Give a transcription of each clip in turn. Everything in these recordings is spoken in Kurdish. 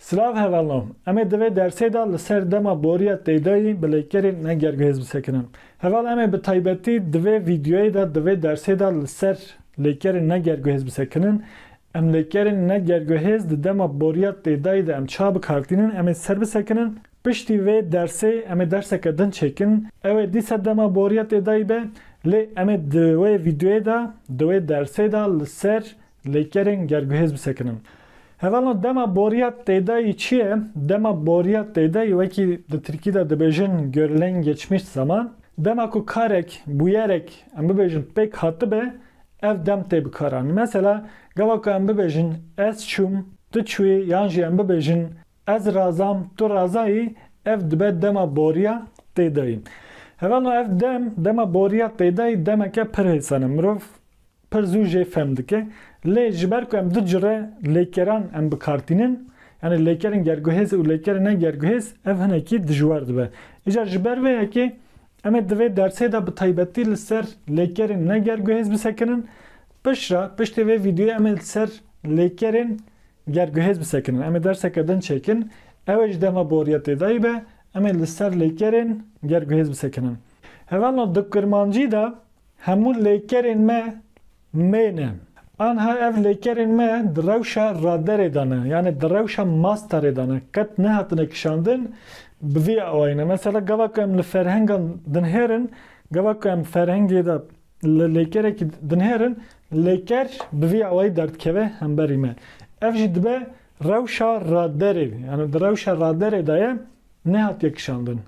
Silav hevalno. Em ê divê dersê de li ser dema boriya têydayî bi lêkerên ne gergihêz bisekinin. Heval em ê bi taybetî di vê vîdeoyê de di vê dersê de li ser lêkerên ne gergihêz bisekinin. Em lêkerên ne gergihêz di dema boriya têdayî de em çawa bikartînin em ê ser bisekinin. Piştî vê dersê em ê derseke din çêkin. Ew ê dîsa dema boriya tê dayî be. Lê em ê di wê vîdeoyê de, di wê dersê de li ser lêkerên gerguhêz bisekinin. Hevalno dema boriya tê dayî çi ye? Dema boriya tê dayî wekî di tirkî de dibêjin görülen geçmiş zaman, dema ku karek, bûyerek em bibêjin pêk hatibe ev dem tê bikaranîn. Mesela gava ku em bibêjin ez çûm, tu çûyî yan jî em bibêjin Ez razam, tu razayî, ev dibe dema boriya têdayî. Hevalno ev dem, dema boriya têdayî demeke pir hêsan e, mirov pir zû jê fem dike. Lê ji ber ku em du cure lêkeran em bi kar tînin, yanî lêkerên gerguhêz û lêkerên ne gerguhêz ev hinekî dijwar dibe. Îcar ji ber vê yekê em ê di vê dersê de bi taybetî li ser lêkerên ne gerguhêz bisekinin. Piştre, piştî vê vîdeoyê em ê li ser lêkerên Ger guhêz bisekinin em ê derseke din çêkin, ew ê ji dema boriya têdayî be, em ê li ser lêkerên ger guhêz bisekinin. Hevalno di kurmancî de hemû lêkerên me mê ne. Anha ev lêkerên me di rewşa raderê de ne, yanê di rewşa masterê de ne, qet nehatine kişandin bi vî awayî ne. Mesela gava ku em li ferhengan dinhêrin, gava ku em ferhengê de, Li lêkerekî dinêrin, lêker bi vî awayî derdikeve hemberî me. Ev jî dibe rewşa raderê, yanî di rewşa raderê de ye nehatiye kişandin.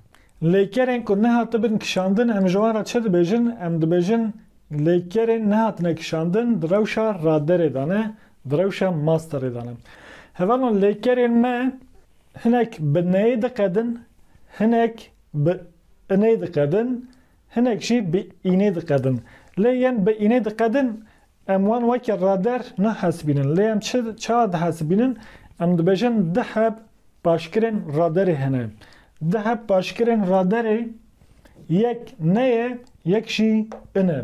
Lêkerên ku nehatibin kişandin em ji wan re çi dibêjin? Em dibêjin lêkerên nehatine kişandin di rewşa raderê de ne, di rewşa masterê de ne. Hevalno lêkerên me hinek bi neyê diqedin, hinek bi inê diqedin, Hinek jî bi înê diqedin. Lê yên bi înê diqedin em wan weke rader nahesibînin. Lê em çi çawa dihesibînin? Em dibêjin du heb paşkirên raderê hene. Du heb paşkirên raderê yek ne ye yek jî in e.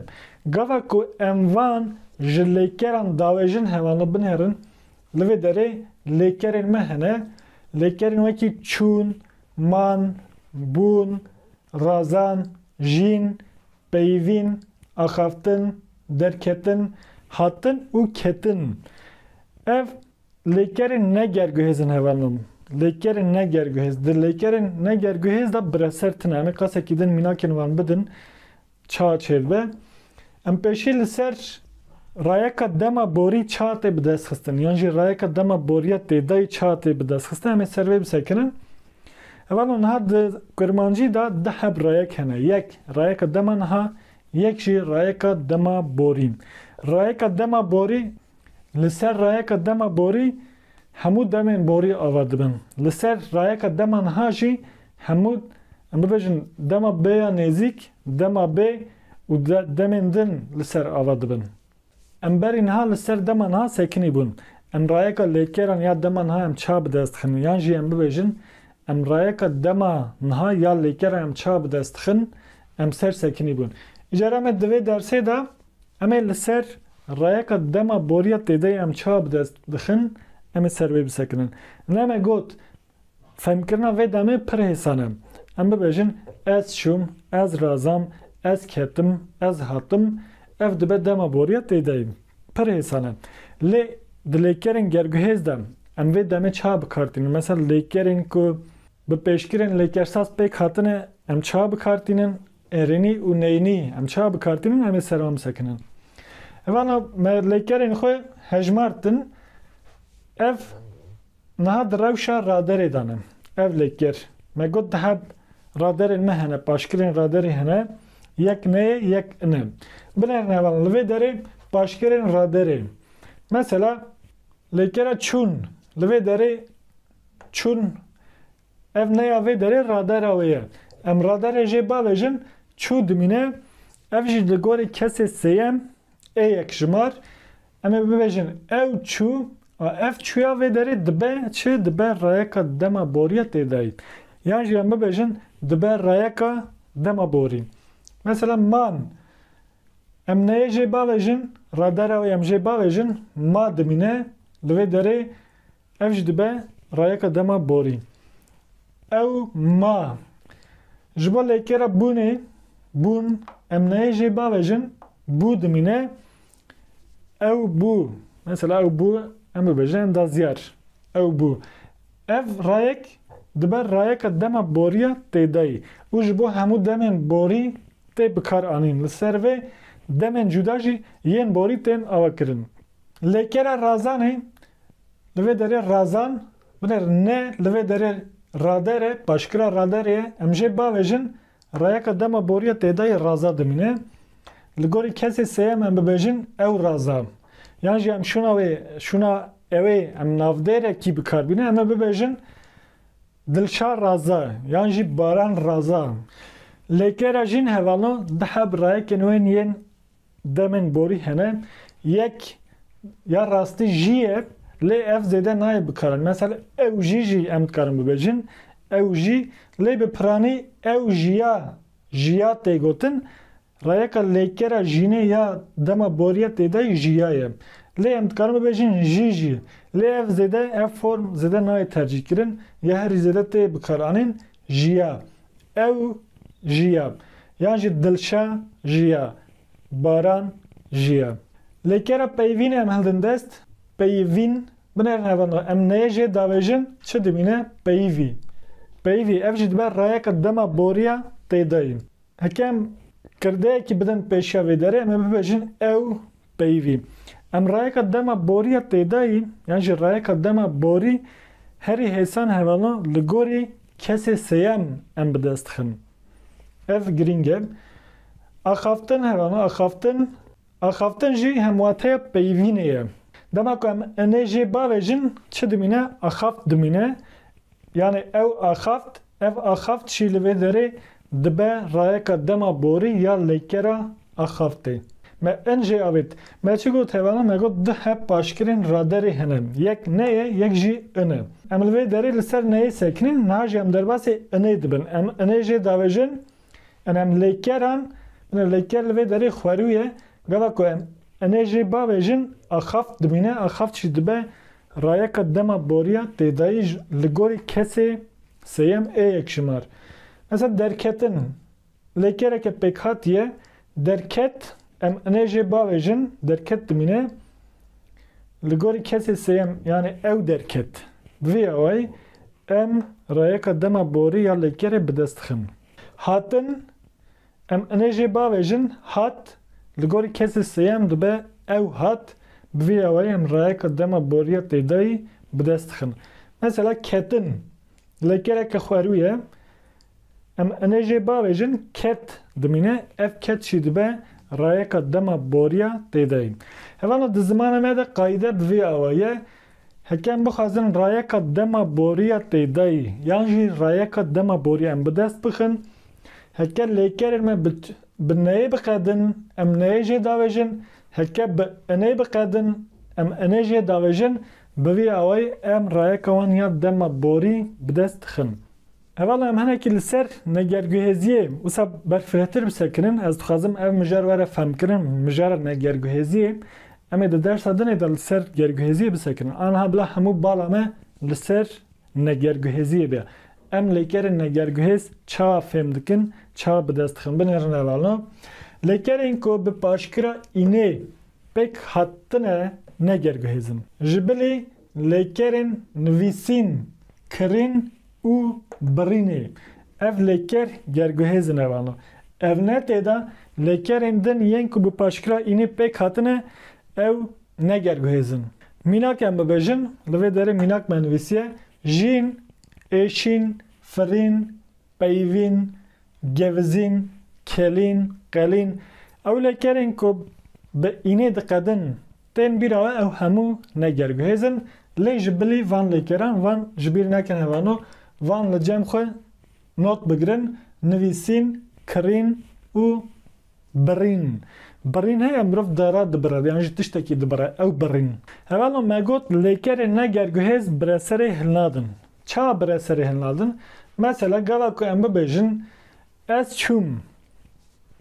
Gava ku em van ji lêkeran dawêjin hevan li bin herin, li vê derê lêkerên me hene. Lêkerên wekî çûn, man, bûn, razan, jîn, peyivîn, axaftin, derketin, hatin û ketin. Ev lêkerên ne gerguhêz in heva nom. Lêkerên ne gerguhêz, di lêkerên ne gerguhêz de bi reser tune. Em ê qasekî din mînakên wan bidin, Ça çêdibe, em pêşî li ser rayeka dema borî ça tê bidestxistin yan jî rayeka dema boriya têdayî ça tê bidestxistin em ê ser vê bisekirin. Hevalon niha di kurmancî de du heb rayek hene, yek rayeka dema niha, yek jî rayeka dema borî. Rayeka dema borî, li ser rayeka dema borî, Hemû demên borî ava dibin. Li ser rayeka dema niha jî hemû em bibêjin dema bê ya nêzîk, dema bê û demên din li ser ava dibin. Em berî niha li ser dema niha sekinî bûn. Em rayeka lêkeran ya dema niha em ça bi dest dixin yan jî em bibêjin em rayeka dema niha ya lêkeran em ça bi dest dixin em ser sekinî bûn. Îcar em ê di vê dersê de Em ê li ser rayeka dema boriya têdeyê em çawa bi dest dixin, em ê ser wê bisekinin. Lê me got, fehmkirina vê demê pir hêsan e. Em bibêjin ez çûm, ez razam, ez ketim, ez hatim, ev dibe dema boriya têdeyê. Pir hêsan e. Lê di lêkerên gerguhêz de em vê demê çawa bi kar tînin? Mesela lêkerên ku bi pêşgirên lêkersaz pêk hatine em çawa bi kar tînin? Erênî û neynî em çawa bi kar tînin em ê ser wan bisekinin. Vana me lêkerên xwe hejmartin ev niha di rewşa raderê de ne. Ev lêker me got di heb raderên me hene paşkirên raderî hene yek neyê yek ine. Binerin heval li vê derê paşkirên raderê mesela lêkera çûn li vê derê çûn Ev neya vê derê radara wê ye. Em radarê jê bavêjin çû dimîne, ev jî li gorî kesê sêyem ê yekjimar. Em ê bibêjin ew çû a ev çûya vê derê dibe çi? Dibe rayeka dema boriya tê dayî. Yan jî em bibêjin dibe rayeka dema borî. Mesela man em neyê jê bavêjin, radara wê em jê bavêjin ma dimîne. Li vê derê Ev jî dibe rayeka dema borî. Ew ma. Ji bo lêkêra bûnê, bûn, em nayê jê bavejin, bû dimîne, ew bû. Mesela ew bû em bibêjin endazyar. Ew bû. Ev rayek dibe rayeka dema boriya têdayî û ji bo hemû demên borî tê bikaranîn. Li ser vê demên cuda jî yên borî tên avakirin. Lêkera razanê, li vê derê razan, binêr ne li vê derê rader e, paşkira rader ye, em jê bavêjin rayeka dema boriya têdayî raza dimîne. Li gorî kesê sêyem em bibêjin ew raza. Yan jî em şûna wê, şûna ewê em navdêrekî bikarbînin em ê bibêjin Dilşar raza yan jî Baran raza. Lêkera jîn hevalno di heb rayekên wên yên. Demên borî hene yek ya rastî jî ye lê ev zêde nayê bikarin. Mesel ew jî jî em dikarin bibêjin ew jî lê bi piranî ew jî ya jî ya tê gotin. Rayeka lêkera jînê ya dema borîya têdayî jî ya ye. Lê em dikarin bibêjin jî jî lê ev zêde ev form zêde nayê tercîhkirin ya herî zêde tê bikaranîn jiya, ew jiya yan jî dilşa jiya, baran jiya. Lê kera peyivînê em hildin dest, peyivîn, binerin hevan re, em neyê jê davêjin çi dimîne, peyivî, peyivî, ev jî dibe rayeke dema boriya têdayî. Heke em kirdeyekî bidin pêşiya vê derê, em ê bibêjin ew Peyvî, em rayeka dema borî ya têdayî yan jî rayeka dema borî herî hêsan hevalan li gorî kesê sêyem em bi dest dixin. Ev girîng e. Axaftin hevalan axaftin, axaftin jî hemwateya peyvînê ye. Dema ku em inê jê bavêjin çi dimîne axaft dimîne, Yanî ew axaft, ev axaft jî li vê derê dibe rayeka dema borî ya leykera axaftê. Me in jê avêt. Me çi got hevana? Me got du hep paşkirên raderê hene. Yek ne ye, yek jî in e. Em li vê derê li ser neyê sekinîn, niha jî em derbasê inê dibin. Em inê jê davêjin, in em leykeran, binê leyker li vê derê xwerû ye. Gava ku em inê jê bavêjin, axaft dimîne, axaft jî dibe Rayeka dema boriya têdayî ji li gorî kesê sêyem ê yekşimar. Mesela derketin, lê kereke pêkhat ye, derket, em inê jê bavêjin, derket dimîne li gorî kesê sêyem yanê ew derket. Bi vî awayî em rayeka dema borî ya lêkerê bi dest dixin. Hatin, Em inê jê bavê jin hat, li gorî kesê sêyem dibe ew hat, bi vî awayî em rayeka dema boriya têdayî bi dest dixin. Mesela ketin, lê geleke xwerû ye. Em inê jê bavê jin ket dimîne, ev ket jî dibe rayeka dema boriya têdayî. Hevana di zimana me de qayîde bi vî awa ye, Hekem bixwazin rayeka dema boriya têdayî yan jî rayeka dema boriya em bi dest bixin, heke lêkerên me bi bi neyê biqedin em neyê jê davêjin, heke bi inê biqedin em inê jê davêjin, bi vî awayî em rayeka wan ya dema borî bi dest dixin. Hevala em hinekî li ser negerguhêziyê wisa berfirehtir bi ser kirin. Ez dixwazim ev mijar were femkirin. Mijara negerguhêziyê em ê di dersa dinê de li ser gerguhêziyê bi ser kirin. Aniha bila hemû bala me li ser negerguhêziyê be. Em lêkerên negerguhêz çawa fêm dikin, çawa bi dest dixin. Binêrin hevalna. Lêkerên ku bi paşkira înê pêk hatine negerguhêz in. Ji bilî lêkerên nivîsîn, kirîn û birînê. Ev lêker gerguhêzin e wano. Ev ne tê de lêkerên din yên ku bi paşkira înê pêk hatine ew ne gerguhêzin. Mînak em bibêjin, li vê derê mînak me nivîsiye, jîn, êşîn, firîn, peyivîn, Gevizîn, kelîn, qelîn, ewlekerên ku bi înê diqedin tên bîra we ew hemû ne gerguhêz in lê ji bilî van lêkeran van ji bîr nekin hevano van li cem xwe not bigirin, nivîsîn, kirîn û birîn. Birîn heye mirov dara dibire yan jî tiştekî dibire ew birîn. Hevalo me got lêkerên ne gerguhêz bi re serê hilnadin. Ça bire serê hin ladin? Mesela gava ku em bibêjin Ez çûm.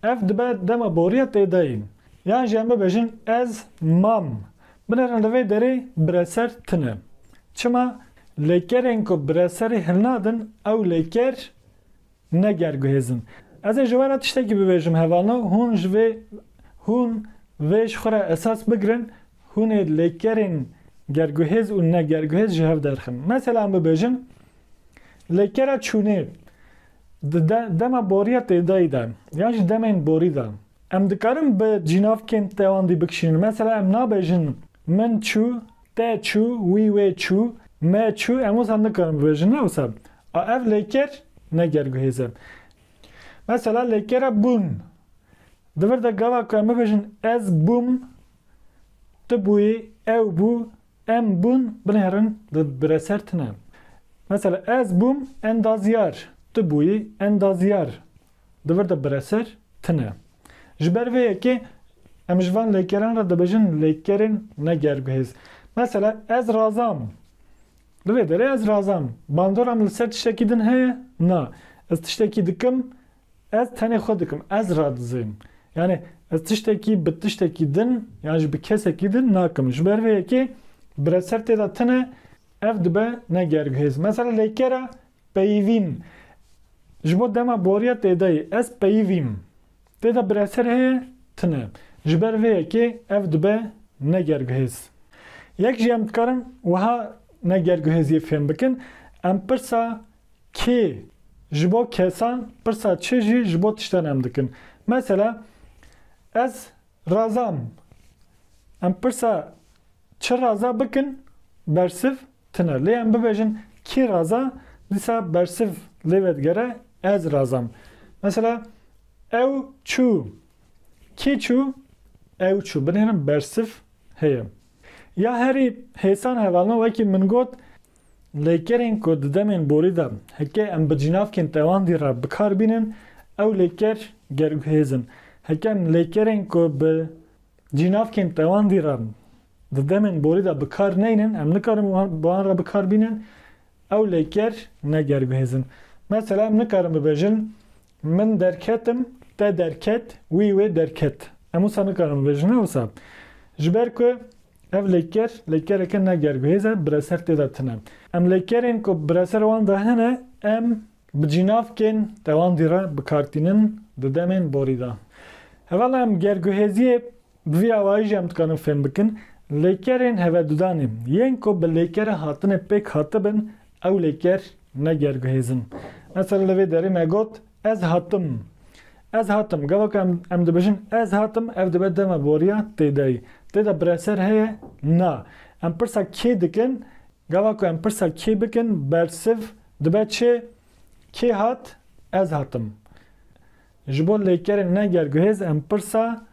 Ev dibe dema boriya têdayî. Yan jî em bibêjin Ez mam. Binêrin li vê derê bireser tune. Çima? Lêkerên ku bireserê hilnadin ew lêker Ne ger guhêzin. Ez ê ji we re tiştekî bibêjim hevano hûn ji vê hûn vê ji xwe re esas bigirin hûn ê lêkerên gerguhêz û ne gerguhêz ji hev derxin. Mesela em bibêjin lêkera çûnê di de dema boriya têdayî de yan ji demên borî de em dikarin bi cînavkên tewandî bikişînin. Mesela em nabêjin min çû Te çû, wî wê çû, me çû em wisa nikarin bibêjin ne wisa a ev lêker ne gerguhêz e. Mesela lêkera bûn. Di vir de gava ku em bibêjin ez bûm, tu bûyî, ew bû, em bûn binê herin di bire ser tune. Mesela ez bûm endaziyar, tu bûyî endaziyar, Di vir de bireser tune. Ji ber vê yekê em ji van lêkeran re dibêjin lêkerên ne gerbihêz. Mesela ez razam. Di vê derê ez razam. Bandora min li ser tiştekî din heye? Na. Ez tiştekî dikim, ez tenê xwe dikim. Ez radizêm. Yanî ez tiştekî bi tiştekî din yan jî bi kesekî din nakim. Ji ber vê yekê bireser tê de tune ev dibe ne gerbihêz. Mesela lêkera Peyivîn, Ji bo dema boriya têdayî ez peyivîm. Têda bireser heye? Tune. Ji ber vê yekê ev dibe ne gerguhêz. Yek jî em dikarin wiha ne gerguhêziyê fêm bikin, em pirsa kê ji bo kesan, pirsa çi jî ji bo tiştan em dikin. Mesela, Ez Razam, Em pirsa çi raza bikin bersiv tune. Lê em bibêjin kî raza dîsa bersiv lê vedigere ez razam. Mesela ew çû, kî çû, ew çû. Binêrin bersiv heye. Ya herî hêsan hevalino wekî min got Lêkerên ku di demên borî de heke em bi cînavkên tewandî re bi kar bînin, ew lêker gerguhêz in. Heke em lêkerên ku bi cînavkên tewandî re di demên borî de bi kar neynin, em nikarin bi wan re bi kar bînin, ew lêker ne gerguhêz in. Mesela em nikarin bibêjin min derketim, te derket, wî wê derket. Em wisa nikarin bibêjin ne wisa. Ji ber ku Ev lêker, lêkereke ne gerguhêz e, bireser tê de tune. Em lêkerên ku bireser wan de hene, em bi cînavkên tewandî re bi kar tînin di demên borî de. Hevala em gerguhêziyê bi vî awayî jî em dikarin fêm bikin, lêkerên hevedudanê yên ku bi lêkere hatine pêk hatibin, ew lêker ne gerguhêz in. Mesela li vê derê me got, Ez hatim. Ez hatim. Gava ku em em dibêjin ez hatim ev dibe dema boriya têdayî. Têda bireser heye? Na. Em pirsa kê dikin? Gava ku em pirsa kê bikin bersiv dibe çi? Kê hat? Ez hatim. Ji bo lêkerên ne gerguhêz em pirsa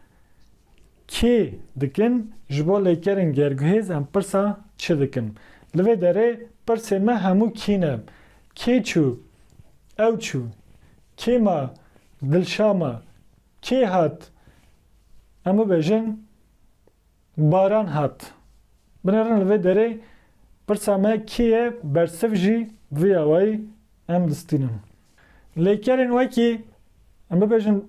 Kê dikin, ji bo lêkerên gerguhêz em pirsa çi dikin. Li vê derê pirsê me hemû kî ne, kê çû, ew çû, kê ma, Dilşa ma, kê hat, em bibêjin Baran hat. Binêrin li vê derê pirsa me kê ye bersiv jî viyawayî em distînin. Lêkerên wekî, em bibêjin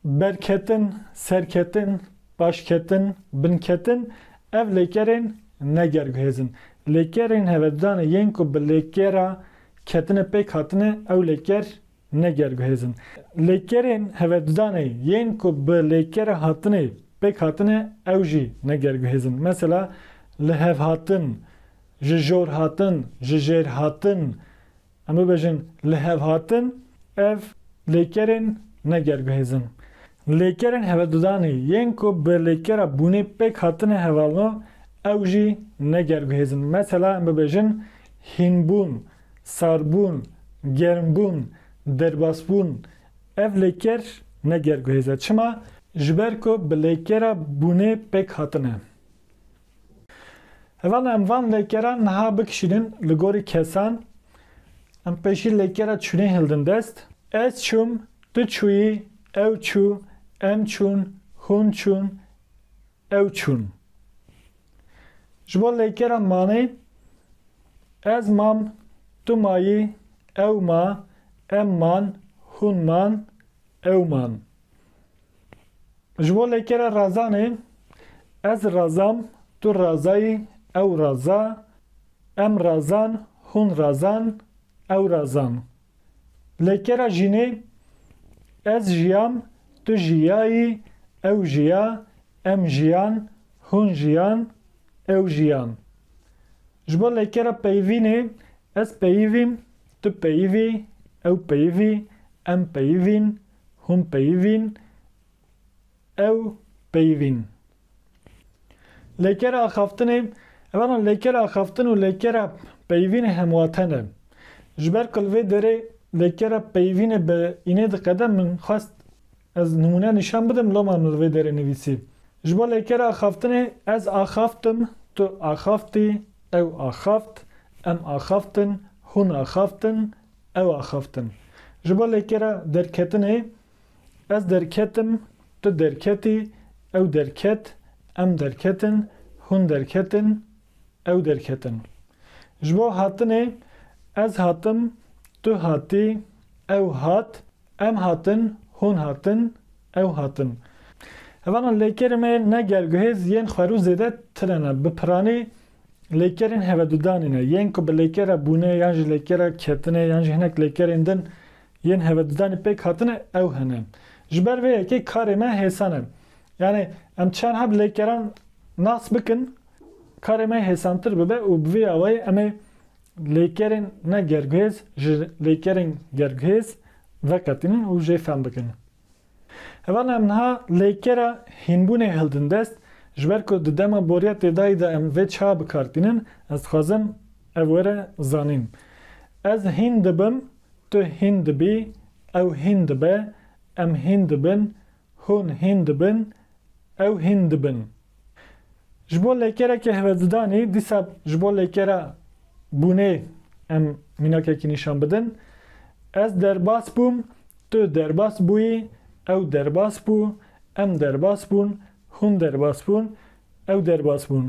berketin, serketin, paşketin, binketin, ev lêkerên ne gerguhêz in. Lêkerên hevedanê yên ku bi lêkera ketinê pêk hatine ew lêker ne gerguhêz in. Lêkerên hevedanê yên ku bi lêkera hatinê pêk hatine ew jî ne gerguhêz in. Mesela, lihevhatin, Ji jor hatin, ji jêr hatin, em bibêjin li hev hatin, ev lêkerên ne ger bihêzin. Lêkerên hevedudanê yên ku bi lêkera bûnê pêk hatine hevalno ew jî ne ger bihêzin. Mesela em bibêjin hînbûn, sarbûn, germbûn, derbasbûn. Ev lêker ne ger bihêze. Çima? Ji ber ku bi lêkera bûnê pêk hatine. Heval em van lêkeran niha bikişînin li gorî kesan, em pêşî lêkera çûnê hildin dest, ez çûm, tu çûyî, ew çû, em çûn, hûn çûn, ew çûn. Ji bo lêkera manê ez mam, tu mayî, ew ma, em man, hûn man, ew man. Ji bo lêkera razanê, ez razam, tu razayî, ew raza, em razan, hûn razan, ew razan. Lêkera jînê, ez jiyam, tu jiyayî, ew jiya, em jiyan, hûn jiyan, ew jiyan. Ji bo lêkera peyivînê, ez peyivîm, tu peyivî, ew peyivî, em peyivîn, Hûn peyivîn, ew peyivîn. Lêkera axaftinê, Ev ana lêkera axaftin û lêkera peyivînê hemwaten e. Ji ber ku li vê derê lêkera peyivînê bi înê diqede min xwest ez nimûne nîşan bidim loma min li vê derê nivîsî. Ji bo lêkera axaftinê, ez axaftim, tu axaftî, ew axaft, em axaftin, hûn axaftin, Ew axaftin. Ji bo lê ke re derketinê, ez derketim, tu derketî, ew derket, em derketin, hûn derketin, ew derketin. Ji bo hatinê, ez hatim, tu hatî, ew hat, em hatin, hûn hatin, ew hatin. Hevanan lêkerî me ne gel guhêz yên xwerû zêde tire ne. Bi piranî Lêkerên hevedudanê ne, yên ku bi lêkera bûnê yan jî lêkera ketinê yan jî hinek lêkerên din yên hevedudanê pêk hatine ew hene. Ji ber vê yekê karê me hêsan e. Yanê em çenha bi lêkeran nas bikin karê me hêsantir bibe û bi vê awayê em ê lêkerên ne gerguhêz ji lêkerên gerguhêz veqetînin û jê fehm bikin. Heval em niha lêkera hînbûnê hildin dest, ji ber ku di dema boriya têdayî de em vê çiha bi kar tînin, ez dixwazim ev were zanîn. Ez hîn dibim, tu hîn dibî, ew hîn dibe, em hîn dibin, hûn hîn dibin, ew hîn dibin. Ji bo lêkerekê hivezidanî dîsa ji bo lêkera bûnê em mînakekî nîşan bidin, Ez derbas bûm, tu derbas bûyî, ew derbas bû, em derbas bûn, hûn derbas bûn, ew derbas bûn.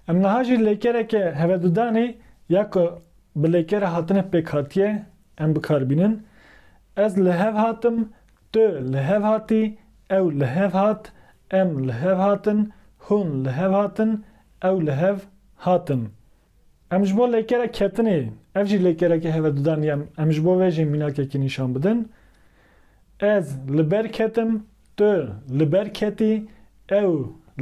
Em niha jî lêkereke hivezidanî ya ku bi lêkera hatinê pêk hatiye em bikar bînin, Ez li hev hatim, Tu li hev hatî, ew li hev hat, em li hev hatin, hûn li hev hatin, ew li hev hatin. Em ji bo lêkere ketinê, ev jî lêkereke hevedudan ye, em ji bo vê jî mînakekî nîşan bidin. Ez li ber ketim, tu li ber ketî, ew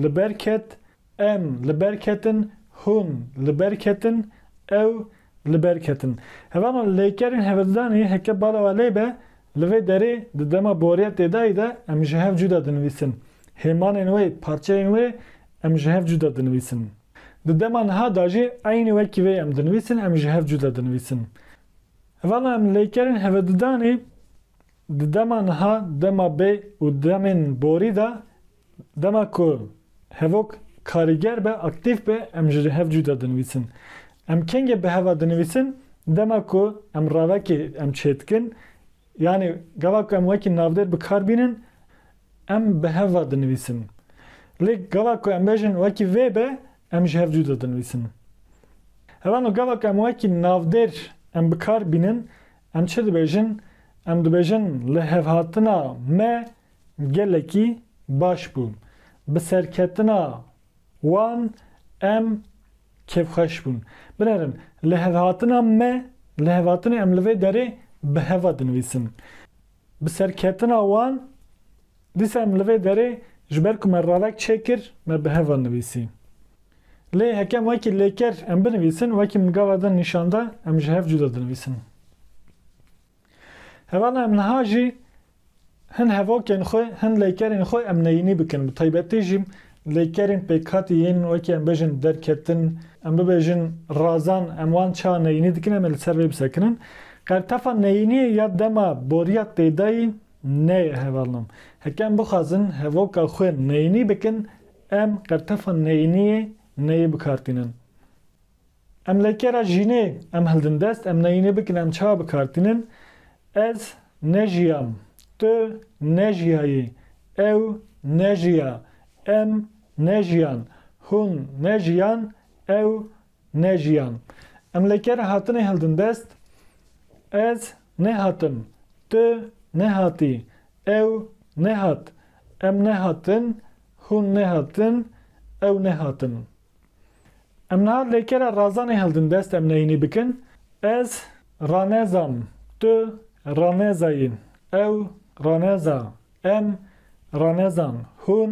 li ber ket, Em li ber ketin, hûn li ber ketin, ew li ber ketin. Hevana lêkerên hevedidanê heke bala we lê be, li vê derê di dema boriya têdayî de em ji hev cuda dinivîsin. Hêmanên wê, parçeyên wê em ji hev cuda dinivîsin. Di dema niha de jî eynî wekî vê em dinivîsin, em ji hev cuda dinivîsin. Hevana em lêkerên hevedidanê Di dema niha, dema bê û demên borî de dema ku hevok karîger be, aktîf be em ji hev cuda dinivîsin. Em kengê bi heva dinivîsin dema ku em ravekê em çêdikin yanî gava ku em wekî navdêr bi kar bînin em bi heva dinivîsin. Lê gava ku em bêjin wekî vê be em ji hev cuda dinivîsin. Hevano gava ku em wekî navdêr em bi kar bînin Em çi dibêjin? Em dibêjin lihevhatina me gelekî baş bû. Bi serketina wan em kêfxweş bûn. Binêrin, lihevhatina me, lihevhatinê em li vê derê bi heva dinivîsin. Bi serketina wan Dîsa em li vê derê ji ber ku me ravek çêkir me bi heva nivîsî. Lê hekem wekî lêker em binivîsin wekî min gava din nîşan da em ji hev cuda dinivîsin. Hevala em niha jî hin hevokên xwe hin lêkerên xwe em neyînî bikin bi taybetî jî lêkerên pêkhatî yên wekî em bêjin derketin em bibêjin razan em wan çawa neyînî dikin em ê li ser vê bisekinin. Qertefa neyîniyê ya dema boriya têdayî Neyê hevalnan. Heke em bixwazin hevoka xwe neyînî bikin, em qertefa neyîniyê neyê bikartînin. Em lê ke re jînê em hildin dest, em neyînê bikin em çawa bikartînin, ez nejiyam, tu nejiyayî, ew nejiya, em nejiyan, hûn nejiyan, ew Ne jiyan. Em li ker hatinê hildin dest, Ez nehatim, tu nehatî, ew nehat, em nehatin, hûn nehatin, ew nehatin. Em niha lê kera razanê hildin dest em neyînî bikin, Ez ranezam, tu ranezayî, ew raneza, em ranezan, hûn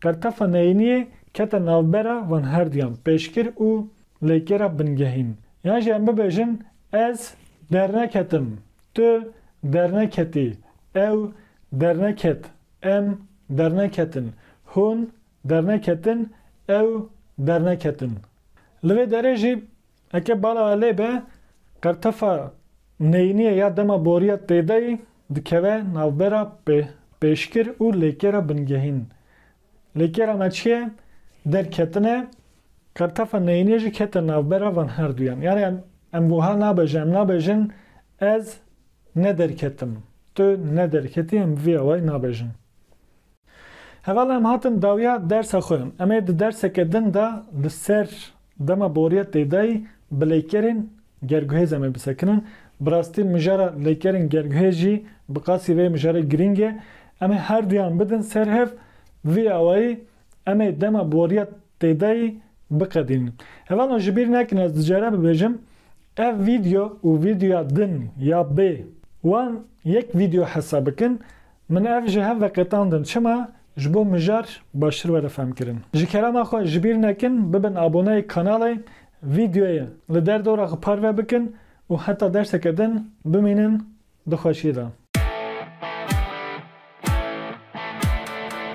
Pertefa neyîniyê kete navbera van herduyan pêşkir û lêkêra bingehîn. Yan jî em bibêjin ez derneketim, tu derneketî, ew derneket, em derneketin, hûn derneketin, ew derneketin. Li vê derê jî Eke bala elê be, qertefa neyîniyê ya dema boriya têdayî dikeve navbera pêşkir û lêkêra bingehîn. Lêkêra me çi ye? Derketine, qertefa neyîniyê jî kete navbera van herduyan. Yanî em em wiha nabêjin, em nabêjin ez nederketim, tu nederketî em vî awayî nabêjin. Heval em hatin dawiya dersa xwe. Em ê di derseke din de li ser Dema boriya têdayî bi leykerên gerguhêz em ê bisekinin. Bi rastî mijara leykerên gerguhêz jî bi qasî vê mijarê girîng e. Em ê her duyan bidin ser hev, vî awayî em ê dema boriya têdayî biqedînin. Hevano ji bîr nekin ez di cere bibêjim ev vîdyo û vîdyoya din ya bê wan yek vîdyo hesa bikin Min ev ji hev veqetandin çima ji bo mijar baştir were femkirin. Ji kelama xwe jibîr nekin bibin aboneyê kanalê vîdyoyê li der dora xwe parve bikin û heta derseke din bimînin di xweşiyê de.